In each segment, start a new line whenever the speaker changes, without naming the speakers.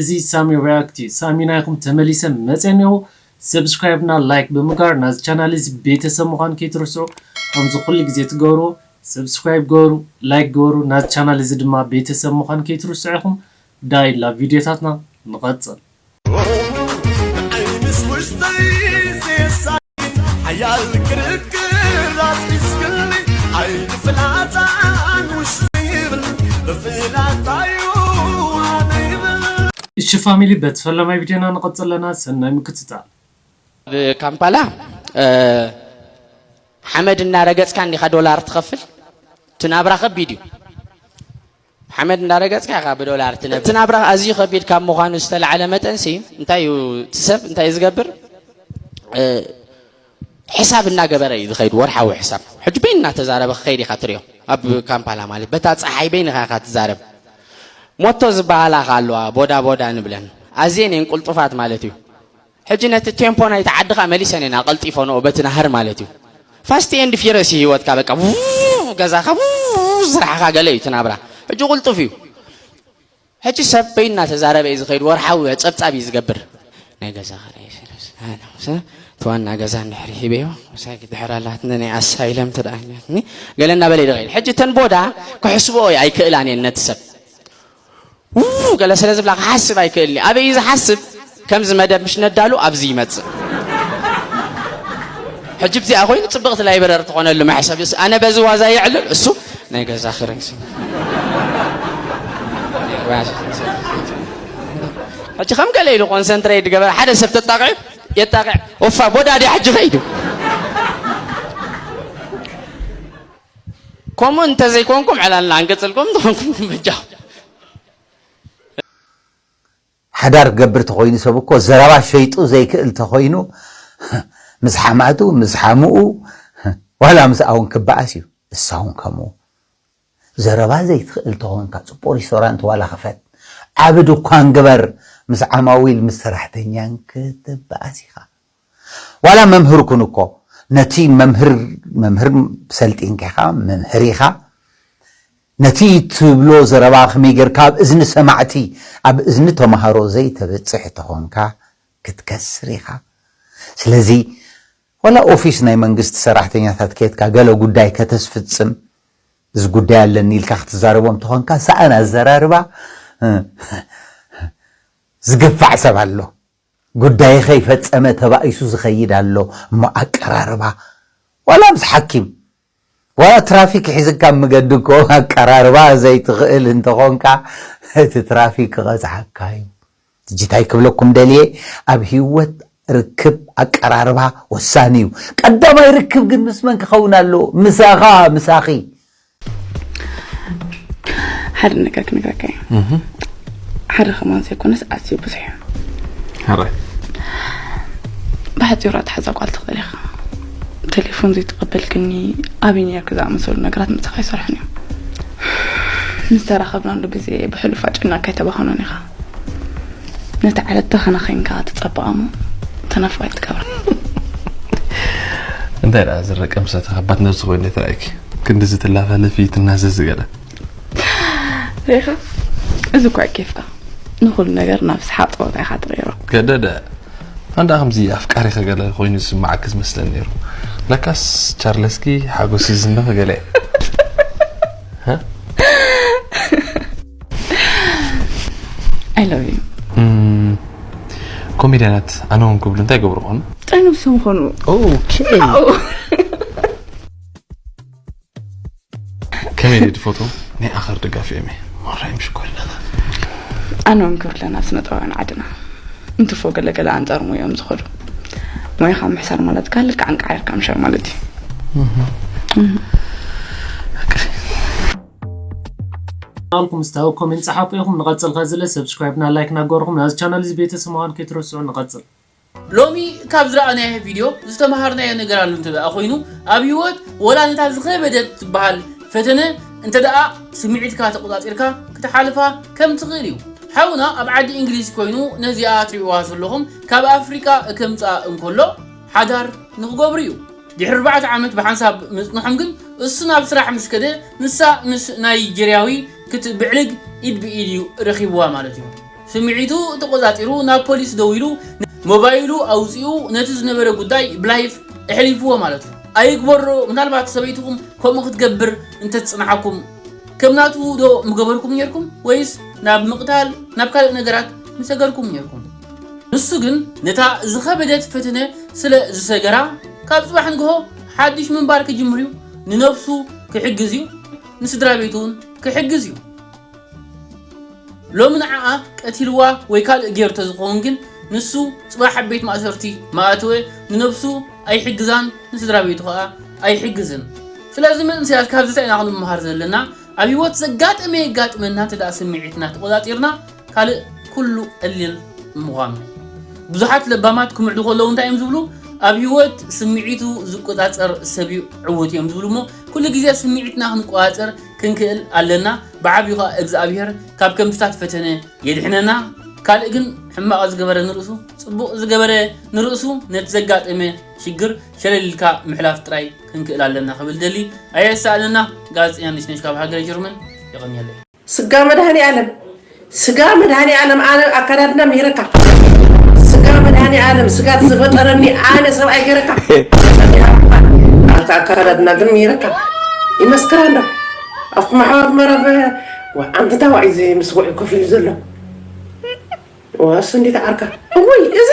እዚ ሳሚ ሪያክት እዩ ሳሚ ናይኩም ተመሊሰ መጼ እኔኹ ሰብስክራይብ እና ላይክ ብምግባር ናዚ ቻናል እዚ ቤተሰብ ምኳን ከይትርስዑ ከምዚ ኩሉ ግዜ ትገብርዎ ሰብስክራይብ ግበሩ ላይክ ግበሩ ናዚ ቻናል እዚ ድማ ቤተሰብ ምኳን ከይትርስዑ ኢኩም ዳይ ላቭ ቪድዮታትና ንቀጽል። ሓያል ክርክር ኣስኪስክኒ ዓይኒ ፍላፃን ውሽጢ ይብል ብፍላጣዩ ኣነ ይብል እሺ ፋሚሊ በቲ ፈላማይ ቪድዮና ንቐፅል ኣለና ሰናይ ምክትታል። ኣብ
ካምፓላ ሓመድ እናረገፅካ እንዲኻ ዶላር ትኸፍል እቲ ናብራ ከቢድ እዩ። ሓመድ እንዳረገጽካ ኢኻ ብዶላር ትነብር። እቲ ናብራ ኣዝዩ ከቢድ ካብ ምዃኑ ዝተላዕለ መጠንሲ እንታይ እዩ እቲ ሰብ እንታይ እዩ ዝገብር ሕሳብ እናገበረ እዩ ዝኸይድ ወርሓዊ ሕሳብ ሕጂ በይን እናተዛረበ ክኸይድ ኢኻ ትሪኦ ኣብ ካምፓላ ማለት በታ ፀሓይ በይንኻ ኢኻ ትዛረብ ሞቶ ዝበሃላ ከ ኣለዋ ቦዳ ቦዳ ንብለን ኣዝየን እየን ቁልጡፋት ማለት እዩ ሕጂ ነቲ ቴምፖ ናይቲ ዓድኻ መሊሰን ኢና ኣቐልጢፈንኦ በቲ ናህሪ ማለት እዩ ፋስቲ ኤንድ ፊረስ እዩ ህይወትካ በቃ ገዛኻ ስራሕኻ ገለ እዩ እቲ ናብራ ሕጂ ቁልጡፍ እዩ ሕጂ ሰብ በይ እናተዛረበ እዩ ዝኸይድ ወርሓዊ ፀብፃብ እዩ ዝገብር ናይ ገዛ ክራይ እቲ ዋና ገዛ እንድሕሪ ሂበዮ ሳይ ድሕር ኣላትኒ ናይ ኣሳይለም ተደኣኛትኒ ገለ እናበለ ይደኸይድ ሕጂ እተን ቦዳ ክሕስብኦ እዩ ኣይክእላን እየን ነቲ ሰብ ገለ ስለ ዝብላ ክሓስብ ኣይክእልኒ ኣበይ እዩ ዝሓስብ ከምዚ መደብ ምሽ ነዳሉ ኣብዚ ይመፅእ ሕጂ ብዚኣ ኮይኑ ፅብቕቲ ላይብረሪ ትኾነሉ መሕሰብ ኣነ በዚ ዋዛ የዕልል እሱ ናይ ገዛ ክረ ሕጂ ከም ገለ ኢሉ ኮንሰንትሬት ገበረ ሓደ ሰብ ተጣቂዑ የጣቂዕ ወፋ ቦዳዲ ሕጂ ከይዱ ከምኡ እንተዘይኮንኩም ዕላልና ኣንገጽልኩም እንተኾንኩም በጃኹም።
ሓዳር ክገብር ተኾይኑ ሰብ እኮ ዘረባ ሸይጡ ዘይክእል ተኾይኑ ምስ ሓማቱ ምስ ሓምኡ ዋላ ምስ ኣውን ክበኣስ እዩ እሳውን ከምኡ ዘረባ ዘይትኽእል ተኾንካ ጽቡቕ ሪስቶራንት ዋላ ክፈት ዓቢ ድኳን ግበር ምስ ዓማዊል ምስ ሰራሕተኛን ክትበኣስ ኢኻ ዋላ መምህር ኩን እኮ ነቲ መምህር መምህር ሰልጢንካ ኢኻ መምህር ኢኻ ነቲ ትብሎ ዘረባ ከመይ ጌርካ ኣብ እዝኒ ሰማዕቲ ኣብ እዝኒ ተማሃሮ ዘይተበጽሕ ተኾንካ ክትከስር ኢኻ ስለዚ ዋላ ኦፊስ ናይ መንግስቲ ሰራሕተኛታት ኬትካ ገለ ጉዳይ ከተስፍጽም እዚ ጉዳይ ኣለኒ ኢልካ ክትዛረቦም ተኾንካ ሰኣን ኣዘራርባ ዝገፋዕ ሰብ ኣሎ ጉዳይ ከይፈጸመ ተባኢሱ ዝኸይድ ኣሎ እሞ ኣቀራርባ ዋላ ምስ ሓኪም ዋላ ትራፊክ ሒዝካ ኣብ መገዲ እኮ ኣቀራርባ ዘይትኽእል እንተኾንካ እቲ ትራፊክ ክቐጽዓካ እዩ። ሕጂ እንታይ ክብለኩም ደልየ ኣብ ሂወት ርክብ ኣቀራርባ ወሳኒ እዩ። ቀዳማይ ርክብ ግን ምስ መን ክኸውን ኣለዎ? ምሳኻ ምሳኺ
ሓደ ነገር ክንብለካ እዩ ሓደ ከማን ዘይኮነስ ኣዝዩ ብዙሕ እዩ
ሓራይ
ብሓፂሩ ኣትሓዛ ጓል ትኽእል ኢኻ ቴሌፎን ዘይትቐበል ግኒ ኣብይ ነርክ ዝኣመሰሉ ነገራት ምሳኻ ይሰርሑን እዮም ምስ ተራኸብናሉ ግዜ ብሕሉፍ ኣጨና ከይተባኸኖን ኢኻ ነቲ ዓለት ደኸነ ዄንካ ትጸብቓ እሞ ተነፋይት ትገብራ።
እንታይ ደኣ ዝረቀ ምስ እቲ ከባት ነብሲ ኮይነ ተራእኪ ክንድዚ ትላፋለፊ ትናዘዚ ገለ
ሪኢኻ እዚ እኳ ኬፍካ ንኹሉ ነገር ናብ ስሓቕ ጸወታ ኢኻ ትቕይሮ። ገደደ
ኣንዳ ከምዚ ኣፍቃሪኺ ገለ ኮይኑ ዝስምዓኪ ዝመስለኒ ነይሩ ለካስ ቻርለስኪ ሓጎስኪ ዝስምኺ ገለ እየ።
I love you.
ኮሜድያናት ኣነ ውን ክብሉ እንታይ ገብሩ ኾኑ ጠንብሶም ኾኑ ከመይ ድድ ፎቶ ናይ ኣኸር ደጋፊ እየ ማራይም ሽኮርለና ኣነ
ውን ክብለና ስነ ጥበባውያን ዓድና እንትፎ ገለገለ ኣንጻር ሙዮም ዝኸዱ ሞያኻ ምሕሳር ማለት ካል ልክዕ እንቃዓርካ ምሻር ማለት እዩ
ቻናልኩም እስቲ ኣብ ኮሜንት ጸሓፉ ኢኹም ንቐጽል ከዚ ለ ሰብስክራይብ ና ላይክ ና ገበርኹም ናዚ ቻናል እዚ ቤተሰብ ምዃን ከይትረስዑ ንቐጽል።
ሎሚ ካብ ዝረኣናዮ ቪድዮ ዝተመሃርናዮ ነገር ኣሎ እንተደኣ ኮይኑ ኣብ ሂወት ወላ ነታ ዝኸበደት ትበሃል ፈተነ እንተደኣ ስምዒትካ ተቆጻጺርካ ክትሓልፋ ከም ትኽእል እዩ ሓውና ኣብ ዓዲ እንግሊዝ ኮይኑ ነዚኣ ትሪእዋ ዘለኹም ካብ ኣፍሪቃ ከምጽኣ እንከሎ ሓዳር ንኽገብሩ እዩ ድሕሪ ኣርባዕተ ዓመት ብሓንሳብ ምጽንሖም ግን እሱ ናብ ስራሕ ምስ ከደ ንሳ ምስ ናይጀርያዊ ክትብዕልግ ኢድ ብኢድ እዩ ረኺብዋ ማለት እዩ። ስምዒቱ ተቖጻጺሩ ናብ ፖሊስ ደዊሉ ሞባይሉ ኣውጺኡ ነቲ ዝነበረ ጉዳይ ብላይፍ ኣሕሊፍዎ ማለት እዩ። ኣይግበሮ ምናልባት ሰበይትኹም ከምኡ ክትገብር እንተትጽንሓኩም ከም ናቱ ዶ ምገበርኩም ኔርኩም ወይስ ናብ ምቕታል ናብ ካልእ ነገራት ምሰገርኩም ኔርኩም። ንሱ ግን ነታ ዝኸበደት ፈተነ ስለ ዝሰገራ፣ ካብ ጽባሕ ንግሆ ሓድሽ ምንባር ክጅምር እዩ፣ ንነብሱ ክሕግዝ እዩ፣ ንስድራቤቱ እውን ክሕግዝ እዩ። ሎሚ ንዓኣ ቀቲልዋ ወይ ካልእ ገይሩ ተዝኸውን ግን ንሱ ጽባሕ ኣብ ቤት ማእሰርቲ ምኣተወ፣ ንነብሱ ኣይሕግዛን ንስድራቤቱ ከኣ ኣይሕግዝን። ስለዚ መንእሰያት ካብዚ ታይ ኢና ክንመሃር ዘለና፣ ኣብ ሂወት ዘጋጠመ የጋጥመና እንተ ስምዒትና ተቆጻጺርና፣ ካልእ ኩሉ ቀሊል ምዃኑ። ብዙሓት ለባማት ክምዕዱ ከለዉ እንታይ እዮም ዝብሉ? ኣብ ህይወት ስምዒቱ ዝቆጻጸር ሰብ'ዩ ዕዉት እዮም ዝብሉ እሞ ኩሉ ግዜ ስምዒትና ክንቆጻጸር ክንክእል ኣለና ብዓቢኡ ከኣ እግዝኣብሄር ካብ ከምዚታት ፈተነ የድሕነና ካልእ ግን ሕማቕ ዝገበረ ንርእሱ ጽቡቕ ዝገበረ ንርእሱ ነቲ ዘጋጠመ ሽግር ሸለል ኢልካ ምሕላፍ ጥራይ ክንክእል ኣለና ክብል ደሊ ኣየሳእነና ጋዜጠኛ ነሽነሽ ካብ ሃገረ ጀርመን የቐንየለይ። ስጋ መድሃኒኣለም
ስጋ መድሃኒኣለም ኣነ ኣካዳድና ምሂረካ ስጋ መድሃኒኣለም ስጋ ዝፈጠረኒ ኣነ ሰብኣይ ገረካ ኣታ ኣካዳድና ግን ምሂረካ ይመስክር ኣሎ ኣብቲ ማሕበር መረብ ዓንዲ ታዋዕ እዚ ምስ ጉዕ ኮፍ ኢሉ ዘሎ ዋሱ እንዴት ዓርካ እውይ እዚ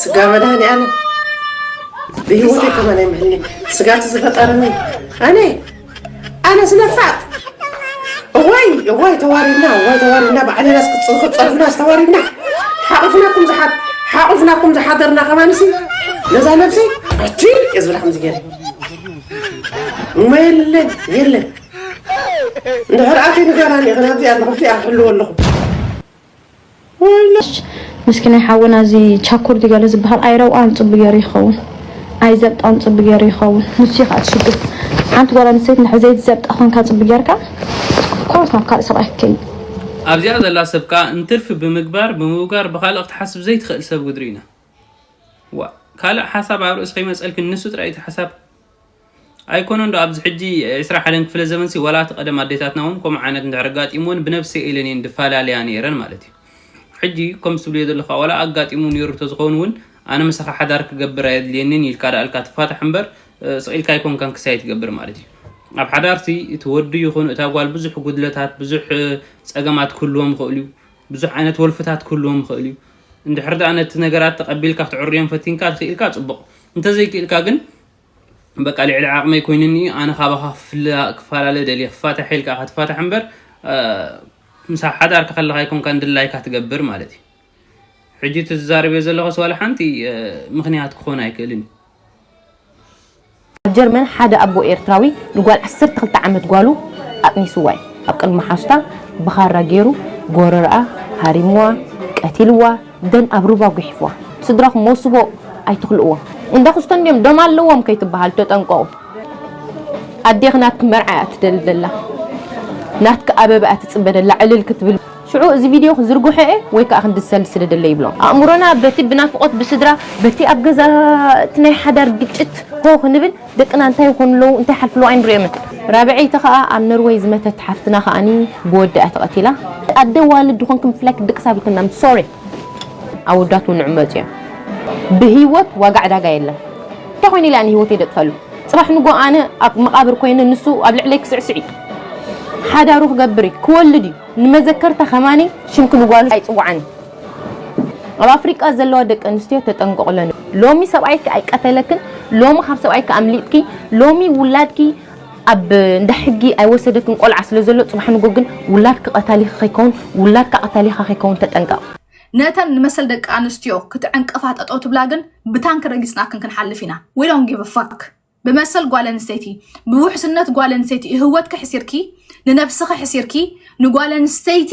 ስጋ መድኃኒዓለም ብህይወት ከማን ኣይምህልኝ ስጋት ዝፈጠረኒ ኣነ ኣነ ስለፋት እዋይ እዋይ ተዋሪድና እዋይ ተዋሪድና ባዕልና ክፀርፍና ዝተዋሪድና ሓቑፍናኩም ዝሓት ሓቑፍናኩም ዝሓደርና ከማንሲ ነዛ ነብሲ ኣቲ እየ ዝብላ ከምዚ ገይረ እሞ የለን የለን እንድሕር ኣተይ ንገራኒ ይኽን ኣብዚኣ ኣለኹ ኣብዚኣ ክሕልዎ ኣለኹ
ምስኪናይ ሓውና እዚ ቻኩር ድዩ ገለ ዝበሃል ኣይረውኣን ጽቡቅ ገይሩ ይኸውን ኣይዘብጣን ጽቡቅ ገይሩ ይኸውን ንሱ ይኸኣ ትሽግር ሓንቲ ጓል ኣንስተይቲ ንድሕር ዘይትዘብጣ ኮንካ ጽቡቅ ገይርካ ኮርስ ናብ ካልእ ሰብኣይ ክትከይድ ኣብዚኣ ዘላ
ሰብ ከኣ እንትርፊ ብምግባር ብምውጋር ብካልእ ክትሓስብ ዘይትኽእል ሰብ ግድሪ ኢና ዋእ ካልእ ሓሳብ ኣብ ርእሲ ከይመጸልኪ ንሱ ጥራይ እቲ ሓሳብ ኣይኮነን ዶ ኣብዚ ሕጂ ዕስራ ሓደን ክፍለ ዘመንሲ ዋላ እቲ ቀደም ኣዴታትና እውን ከምኡ ዓይነት እንድሕር ኣጋጢምወን ብነብሰይ ኢለን እየን ድፈላለያ ነይረን ማለት እዩ። ሕጂ ከምዚ ትብልዮ ዘለኻ ዋላ ኣጋጢሙ ነይሩ ተዝኸውን እውን ኣነ ምሳኻ ሓዳር ክገብር ኣየድልየንን ኢልካ ደኣ ኢልካ ትፋታሕ እምበር ስቕ ኢልካ ኣይኮንካን ክሳይ ትገብር ማለት እዩ። ኣብ ሓዳርሲ እቲ ወዲ ይኹን እታ ጓል ብዙሕ ጉድለታት ብዙሕ ጸገማት ክህልዎም ይኽእል እዩ። ብዙሕ ዓይነት ወልፍታት ክህልዎም ይኽእል እዩ። እንድሕር ደኣ ነቲ ነገራት ተቐቢልካ ክትዕርዮም ፈቲንካ ትኽኢልካ ጽቡቕ እንተዘይክኢልካ ግን በቃ ልዕሊ ዓቅመይ ኮይኑኒ እዩ ኣነ ካባካ ክፈላለ ደልየ ክፋታሕ ኢልካ ኢካ ትፋታሕ እምበር ምስ ሓዳርካ ከለካ ኣይኮንካን ድላይካ ትገብር ማለት እዩ ሕጂ እቲ ዝዛረብዮ ዘለኹስ ዋላ ሓንቲ ምክንያት ክኾን ኣይክእልን እዩ
ኣብ ጀርመን ሓደ ኣቦ ኤርትራዊ ንጓል 12 ዓመት ጓሉ ኣጥኒስዋ እዩ ኣብ ቅድሚ ሓሱታ ብኻራ ገይሩ ጎረርኣ ሃሪምዋ ቀቲልዋ ደን ኣብ ሩባ ጉሕፍዋ ስድራኩም ሞስቦ ኣይትክልእዎም እንዳ ኩስቶ እንድዮም ደም ኣለዎም ከይትባሃሉ ተጠንቀቁ ኣዴኪ ናትኪ መርዓ እያ ትደሊ ዘላ ናትኪ ኣበባ እያ ትጽበ ዘላ ዕልል ክትብል ሽዑ እዚ ቪድዮ ክዝርግሖ እየ ወይ ከኣ ክንድሰል ስለ ደለ ይብሎ። ኣእምሮና በቲ ብናፍቆት ብስድራ በቲ ኣብ ገዛ እቲ ናይ ሓዳር ግጭት ሆ ክንብል ደቅና እንታይ ይኾኑ ኣለዉ እንታይ ይሓልፉ ኣለዉ ኣይንርእዮምን። ራብዐይቲ ከኣ ኣብ ነርወይ ዝመተት ሓፍትና ከኣኒ ብወዳ እያ ተቀቲላ። ኣደ ኣዋልድ ድኾንኪ ምፍላይ ክትድቅሲ ኣብልክናን ሶሪ። ኣወዳት ውን ንዕመፁ እዮም ብህይወት ዋጋ ዕዳጋ የለን እንታይ ኮይነ ኢለ ኣነ ህይወተይ ደጥፈሉ ፅባሕ ንጎ ኣነ ኣብ መቃብር ኮይነ ንሱ ኣብ ልዕለይ ክስዕስዕ እዩ ሓዳሩ ክገብር እዩ ክወልድ እዩ ንመዘከርታ ከማኒ ሽምኪ ንጓሉ ኣይፅዋዕን እዩ ኣብ ኣፍሪቃ ዘለዋ ደቂ ኣንስትዮ ተጠንቀቑለን። ሎሚ ሰብኣይኪ ኣይቀተለክን፣ ሎሚ ካብ ሰብኣይኪ ኣምሊጥኪ፣ ሎሚ ውላድኪ ኣብ እንዳ ሕጊ ኣይወሰደክን ቆልዓ ስለ ዘሎ ጽባሕ ንጎ ግን ውላድኪ ቀታሊኺ ከይከውን ውላድካ ቀታሊኻ ከይከውን ተጠንቀቕ። ነተን ንመሰል
ደቂ ኣንስትዮ ክትዕንቅፋ ጠጠው ትብላ ግን ብታንኪ ረጊጽናክን ክንሓልፍ ኢና we don't give a fuck ብመሰል ጓል ኣንስተይቲ ብውሕስነት ጓል ኣንስተይቲ እህወትኪ ሕሲርኪ ንነብስኺ ሕሲርኪ ንጓል ኣንስተይቲ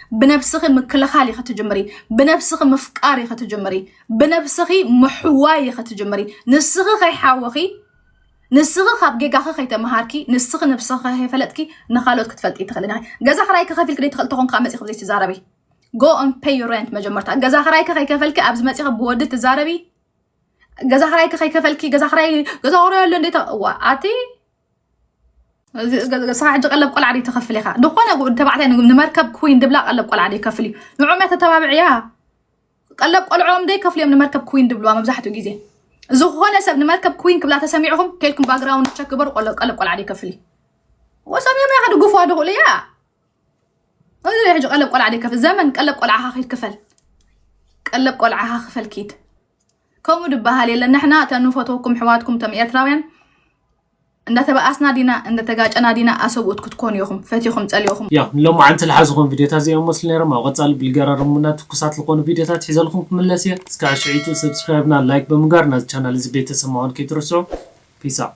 ብነብስኺ ምክልኻል ኢኺ ትጅምሪ ብነብስኺ ምፍቃር ኢኺ ትጅምሪ ብነብስኺ ምሕዋይ ኢኺ ትጅምሪ ንስኺ ከይሓወኺ ንስኺ ካብ ጌጋኺ ከይተምሃርኪ ንስኺ ነብስኺ ከይፈለጥኪ ንካልኦት ክትፈልጢ ትኽእሊ ዲኺ ገዛ ክራይ ክኸፊልኪ ደይትኽእል ተኾን ካብ መፂ ክብዘይ ትዛረቢ ጎ ኦን ፔይ ዩ ሬንት መጀመርታ ገዛ ክራይኪ ከይከፈልኪ ኣብዚ መፂኺ ብወዲ ትዛረቢ ገዛ ክራይኪ ከይከፈልኪ ገዛ ክራይ ገዛ ክራይ ኣሎ እንዴት እዋ ኣቲ ክሳዕ ሕጂ ቀለብ ቆልዓ ድዩ ትኸፍል ኢኻ ዝኾነ ተባዕታይ ንመርከብ ኩዊን ድብላ ቀለብ ቆልዓ ድዩ ከፍል እዩ ንዕኦም እያ ተተባብዕያ ቀለብ ቆልዖም ደይ ከፍሉ እዮም ንመርከብ ኩዊን ድብልዋ መብዛሕትኡ ግዜ ዝኾነ ሰብ ንመርከብ ኩዊን ክብላ ተሰሚዕኹም ከልኩም ባግራውንድ ቸክ ግበሩ ቆለ- ቀለብ ቆልዓ ድዩ ከፍል እዩ ወሰም እዮም ያኸ ድጉፍዋ ድኽእሉ እያ እዚ ናይ ሕጂ ቀለብ ቆልዓ ድዩ ከፍል ዘመን ቀለብ ቆልዓኻ ኪድ ክፈል ቀለብ ቆልዓኻ ክፈል ኪድ ከምኡ ድበሃል የለን ንሕና እተን ንፈትወኩም ሕዋትኩም እቶም ኤርትራውያን እንዳተበኣስና ዲና እንደተጋጨና ዲና ኣሰብኡት ክትኮኑ ኢኹም ፈቲኹም ጸሊእኹም። ያው ንሎማዓንቲ
ልሓዝኹም ቪድዮታት እዚኦም መስሉ ነይሮም ኣብ ቐፃሊ ብልገራርሙና ትኩሳት ልኾኑ ቪድዮታት ሒዘልኹም ክምለስ እየ እስካዕ ሽዕይቱ ሰብስክራይብና ላይክ ብምግባር ናዚ ቻናል እዚ ቤተሰብ ምዃን ከይትርስዑ ፒስ ኣውት።